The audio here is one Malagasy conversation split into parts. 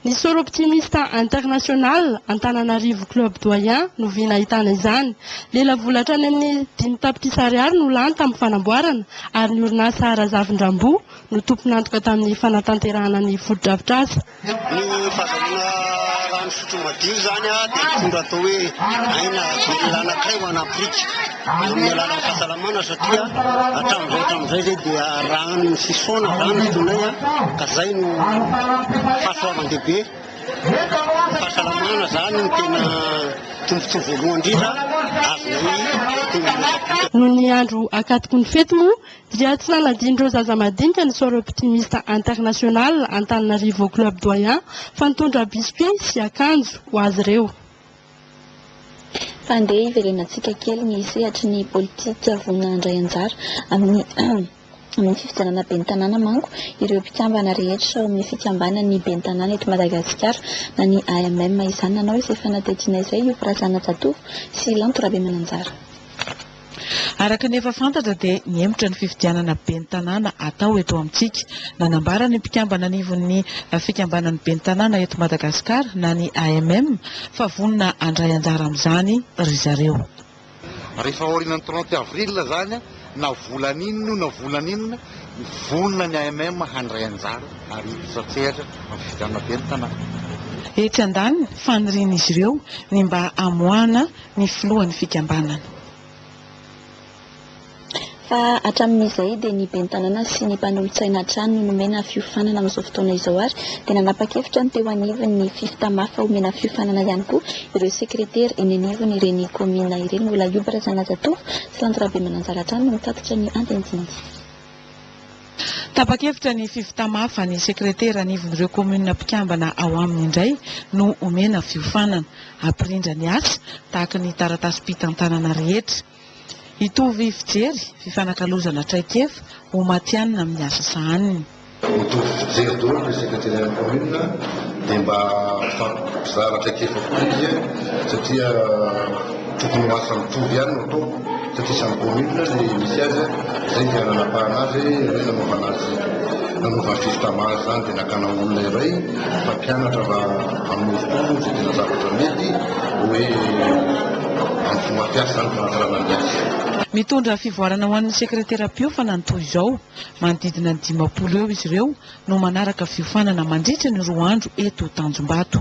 Ny Soro Optimiste International Antananarivo Club Doyen no vy nahitana izany. Lela vola hatrany amin'ny dimy tapitrisa ariary no lany tamin'ny fanamboarana ary ny orinasa Razavindrambo no tompon'antoka tamin'ny fanatanterahana ny fotodrafitrasa. Ny fahazahoana rano fisotro madio izany dia mitondra atao hoe aina velona anankiray ho an'Afrika. Amin'ny alalan'ny fahasalamana satria hatramin'izay hatramin'izay izay dia ranon'ny fisaona izany no tonay an, ka izay no fahasoavan-dehibe. Ny fahasalamana izany no tena tombontsoa voalohany indrindra azonay teny amin'ny Repoblika. Noho ny andro ankatoky ny fety moa dia tsy nanadinon'ireo zaza madinika ny Soirée Optimiste Internationale Antananarivo Club Doyen fa nitondra biscuits sy akanjo ho azy ireo. Fa andeha hiverenantsika kely ny sehatry ny politika vonona handray anjara amin'ny amin'ny fifidianana ben'ny tanàna manko ireo mpikambana rehetra ao amin'ny fikambanan'ny ben'ny tanàna eto Madagasikara na ny AMM izany nanao izay fanadihadiana izay io Razanajatovo sy Lanto Rabemananjara Araka ny efa fantatra dia nihemotra ny fifidianana ben'ny tanàna hatao eto amintsika. Nanambara ny mpikambana anivon'ny fikambanan'ny ben'ny tanàna eto Madagasikara na ny AMM fa vonona handray anjara amin'izany ry zareo. Rehefa aorianan'ny trente avril izany na volana inona io na volana inona, vonona ny AMM handray anjara ary hiditra an-tsehatra amin'ny fifidianana ben'ny tanàna. Etsy andaniny, fanirian'izy ireo ny mba hamoahana ny filohan'ny fikambanana. Fa hatramin'izay dia ny ben'ny tanàna sy ny mpanolotsaina hatrany no nomena fiofanana amin'izao fotoana izao ary dia nanapa-kevitra ny teo anivon'ny Fifth hamafa homena fiofanana ihany koa ireo sekretera eny anivon'ireny kaominina ireny. Olaiobba Razanajatovo sy Lanto Rabemananjara hatrany no mitatitra ny andinindininy. Tapa-kevitra ny fivtamafa ny sekretera anivon'ireo kaominina mpikambana ao aminy indray no omena fiofanana. Hampirindra ny asa, tahaka ny taratasim-pitantanana rehetra. Hitovy fijery, fifanakalozana traikefa, ho matihanina amin'ny asa sahaniny. Mitovy fijery daholo ny sekreterian'ny kaominina dia mba mifampizara traikefa koa izy satria tokony ho asa mitovy ihany no atao. Satria samy commune ilay misy azy izay dia nanapahana azy hoe ireo nanaovana azy nanaovana justement azy izany dia nakana olona iray mpampianatra mba hamorontoron izay tena zavatra mety hoe amin'ny fomba fiasa izany fanatsarana ny azy. Mitondra fivoarana ho an'ny sekreteram-piofana ny toy izao. Manodidina ny dimampolo eo izy ireo no manaraka fiofanana mandritra ny roa andro eto Tanjombato.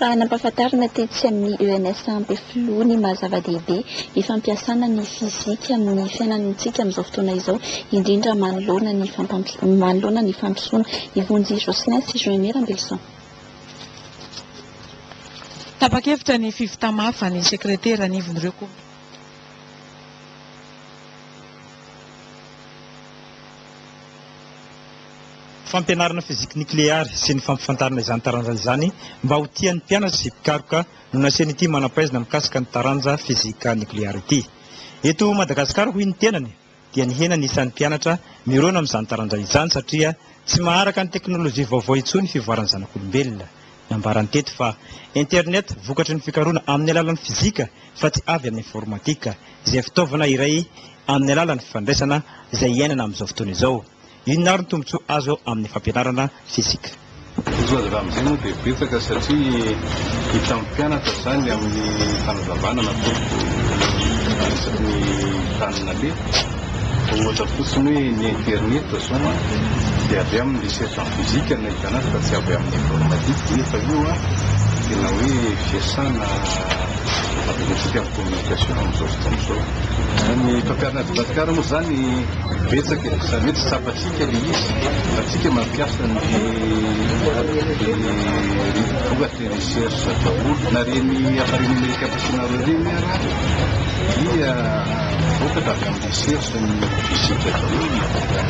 Fa nampahafantarina tetsy amin'ny ENSA Ampefiloha ny maha zava-dehibe ny fampiasana ny fizika amin'ny fiainantsika amin'izao fotoana izao, indrindra manoloana ny manoloana ny fandrosoana. I Vonjy Jocelyn sy Joinie Rambelison. Tapa-kevitra ny fiv Tamafa, ny sekretera anivon'ireo komity. fampianarana fiziky nikleary sy ny fampifantarana izany taranja izany mba ho tian'ny mpianatra sy mpikaroka no nasian'ity manam-pahaizana mikasika ny taranja fizika nikleary ity. Eto Madagasikara, hoy ny tenany, dia nihena ny isan'ny mpianatra mirona amin'izany taranja izany satria tsy maharaka ny teknolojia vaovao intsony ny fivoaran'ny zanak'olombelona. Nambarany teto fa Internet vokatry ny fikaroana amin'ny alalan'ny fizika fa tsy avy amin'ny informatika, izay fitaovana iray amin'ny alalan'ny fandraisana izay iainana amin'izao fotoana izao. Inona ary ny tombontsoa azo amin'ny fampianarana fizika? Ny tombontsoa azo avy amin'izay moa dia betsaka satria hitan'ny mpianatra izany amin'ny fanazavana nataoko ny resaky ny tany nalehako. Ohatra fotsiny hoe ny internet izao dia avy amin'ny recherche en physique no nahitana azy fa tsy avy amin'ny informatique nefa io tena hoe fiasana ampiasaintsika amin'ny communication amin'izao fotoana izao. Ny mpampianatra aty Madagasikara moa izany Betsaka e, izany hoe tsy tsapantsika le izy fa tsika mampiasa ny vokatry ny recherche daholo na reny appareil numérique ampiasanareo reny ara dia vokatra avy amin'ny recherche ny physique daholo ny vokatra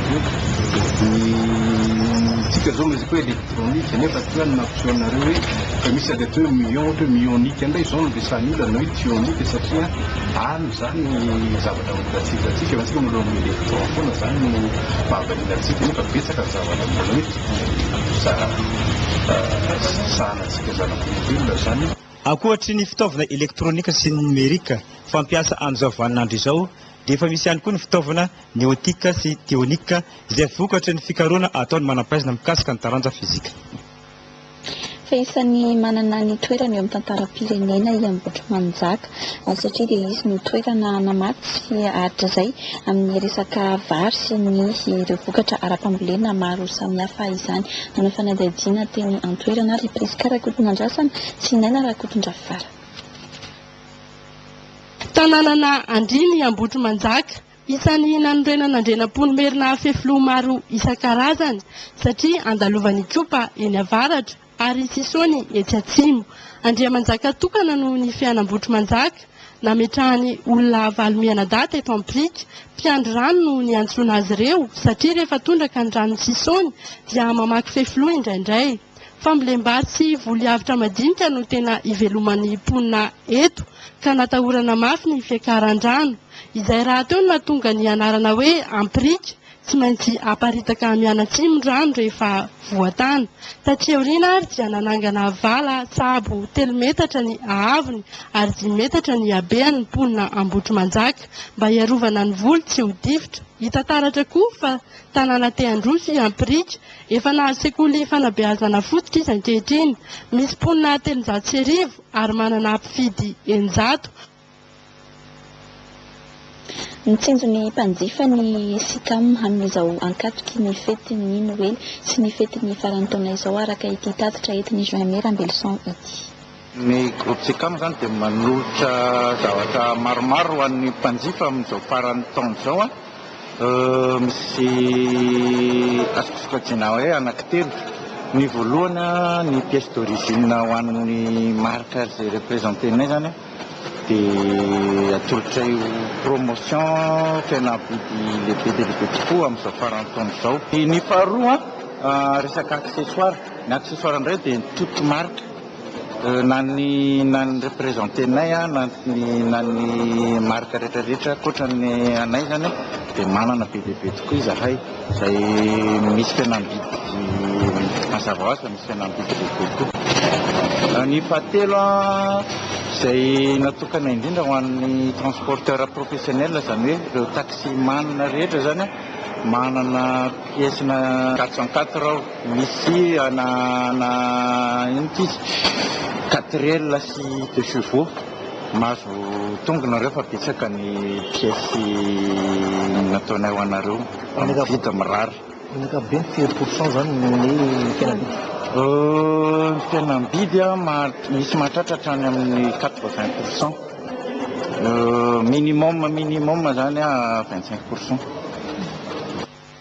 ny tsika zao resaka hoe électronique nefa tsy hoe ny mampiseho anareo hoe fa misy atao hoe mion ohatra hoe mionique indray izao no resahan'ny olona na hoe tionique satria any izany ny Ankoatry ny fitaovana elektronika sy ny nomerika fampiasa amin'izao vaninandro izao dia efa misy ihany koa ny fitaovana neotika sy teonika izay vokatry ny fikarohana ataon'ny manam-pahaizana mikasika ny taranja fizika. fa isan'ny manana ny toerany eo amin'ny tantaram-pirenena i Ambohitrimanjaka, satria dia izy no toerana namatsy sy hatrizay amin'ny resaka vary sy ny ireo vokatra ara-pambolena maro samihafa izany. Nanao fanadihadiana teny an-toerana ary i Prisca Rakotonandrasana sy i Naina Rakotondravara. Tanànana andriana i Ambohitrimanjaka, Isan'ny nanorenana Andrianampoinimerina ary fefiloha maro isan-karazany satria andalovan'i Ikopa eny avaratra ary i Sisony etsy atsimo. Andriamanjaka tokana noho ny fiainam-botromanjaka, nametrahany olona valo mianadahy teto Ampirika. Mpiandry rano no niantsoana azy ireo satria rehefa tondraka ny ranon'i Sisony dia mamaky fefiloha indraindray. Fambolem-bary sy voly avotra madinika no tena iveloman'ny mponina eto, ka natahorana mafy ny fiakaran-drano. Izay rahateo no nahatonga ny anarana hoe Ampirika. Tsy maintsy aparitaka mianatsimo ny rano rehefa voatana. Taty aoriana ary dia nanangana vala tsabo telo metatra ny haavony ary dimy metatra ny habehany ny mponina Ambohitrimanjaka, mba hiarovana ny voly tsy ho difotra. Hita taratra koa fa tanàna te-handroso i Ampirika. Efa nahazo sekoly fanabeazana fototra izy ankehitriny. Misy mponina telonjato sy arivo ary manana mpifidy eninjato. Mitsinjo ny mpanjifa ny Sicam amin'izao ankatoky ny fetin'ny Noely sy ny fetin'ny faran'ny taona izao araka ity tatitra entin'i Jaime Rambelison ity. Ny groupe Tsekam izany dia manolotra zavatra maromaro ho an'ny mpanjifa amin'izao faran'ny taona izao. Misy azoko sokajiana hoe anankitelo. Ny voalohany, ny pièce d'origine ho an'ny marika izay representenay izany dia atolotray ho promotion fihenam-bidy lehibe dia lehibe tokoa amin'izao faran'ny taona izao. Ny faharoa, resaka accessoires. Ny accessoires indray dia ny totomarika. Na ny na ny representenay na ny na ny marika rehetra rehetra ankoatra ny anay izany dia manana be dia be tokoa izahay izay misy fihenam-bidy mazava ho azy fa misy fihenam-bidy lehibe koa. Ny fahatelo izay natokana indrindra ho an'ny transporteur professionnel izany hoe ireo taxi man rehetra izany manana pièce-na quatre cent quatre aho. Misy ana ana inona ity izy quatrielle sy deux chevaux mahazo tongony nareo fa betsaka ny pièce nataonay ho anareo amin'ny vide mirary. Ny ankapobeny firy pour cent zany ny fihenam-bidy? Ny fihenam-bidy misy mahatratra hatrany amin'ny quatre vingt pour cent minimum minimum zany vingt cinq pour cent.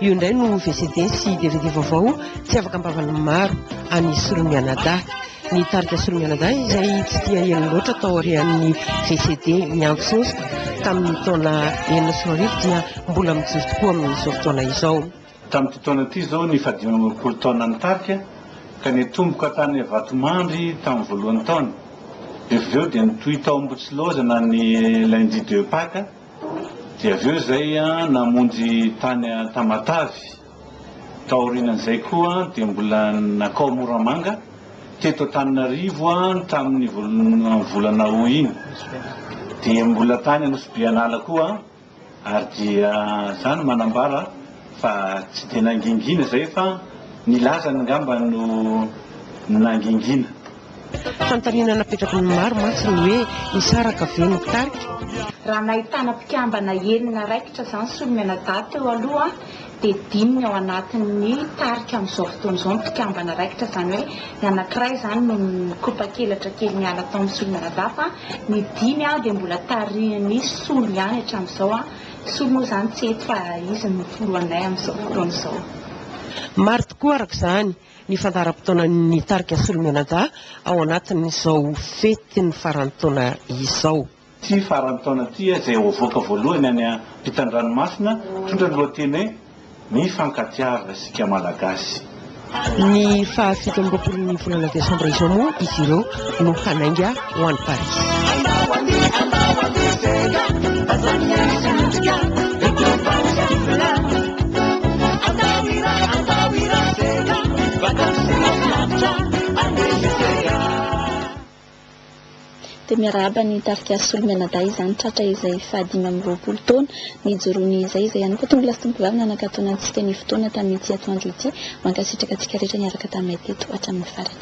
Io indray no VCD sy dvd vaovao tsy afaka am-bavan'ny maro an'i Solon Mianadahy. Ny tarika Solon Mianadahy izay tsy dia ela loatra tao aorian'ny VCD Miantsontsoka tamin'ny taona enina sy roa arivo dia mbola mijoro tokoa amin'izao fotoana izao. Tamin'ity taona ity izao ny fahadimy amby roapolo taonan'ny tarika ka nitomboka tany Vatomandry tamin'ny voalohan'ny taona. Rehefa avy eo dia nitohy tao Ambohitsilaozana ny Lundi de Pâques. Dia avy eo izay namonjy tany Tamatave. Taorian'izay koa dia mbola nakao Moramanga, teto Antananarivo tamin'ny volana Aout iny. Dia mbola tany Anosibeanala koa ary dia zany manambara fa tsy dia nangingina izay fa ny lazany angamba no nangingina. Fanontaniana napetraky ny maro mantsy ny hoe, hisaraka ve ny tarika? Raha nahitana mpikambana enina raikitra izany solomianadahy teo aloha dia dimy ny ao anatin'ny tarika amin'izao fotoana izao ny mpikambana raikitra, izany hoe ny anankiray izany no nikopaky elatra kely niala tao amin'ny solomianadahy fa ny dimy dia mbola tarihin'ny solo ihany hatramin'izao, ny solo moa izany tsy eto fa izy no filohanay amin'izao fotoana izao. Maro tokoa araka izany ny fandaharam-potoanan'ny tarika Solomenadahy ao anatin'izao fetin'ny faran'ny taona izao. Ity faran'ny taona ity izay ho avoaka voalohany any ampitan-dranomasina mitondra ny lohateny hoe Mifankatiava isika Malagasy. Ny faha fito amby roapolon'ny volana desambra izao moa izy ireo no hanainga ho any Paris. dia miarahaba ny tarika solo mianadahy izany tratra izay fahadimy amby roapolo taona nijoroany izay izay ihany koa tonga lastompovavy nanakatona antsika ny fotoana tamin'ity atoandro ity mankasitraka antsika rehetra niaraka taminay teto hatramin'ny farany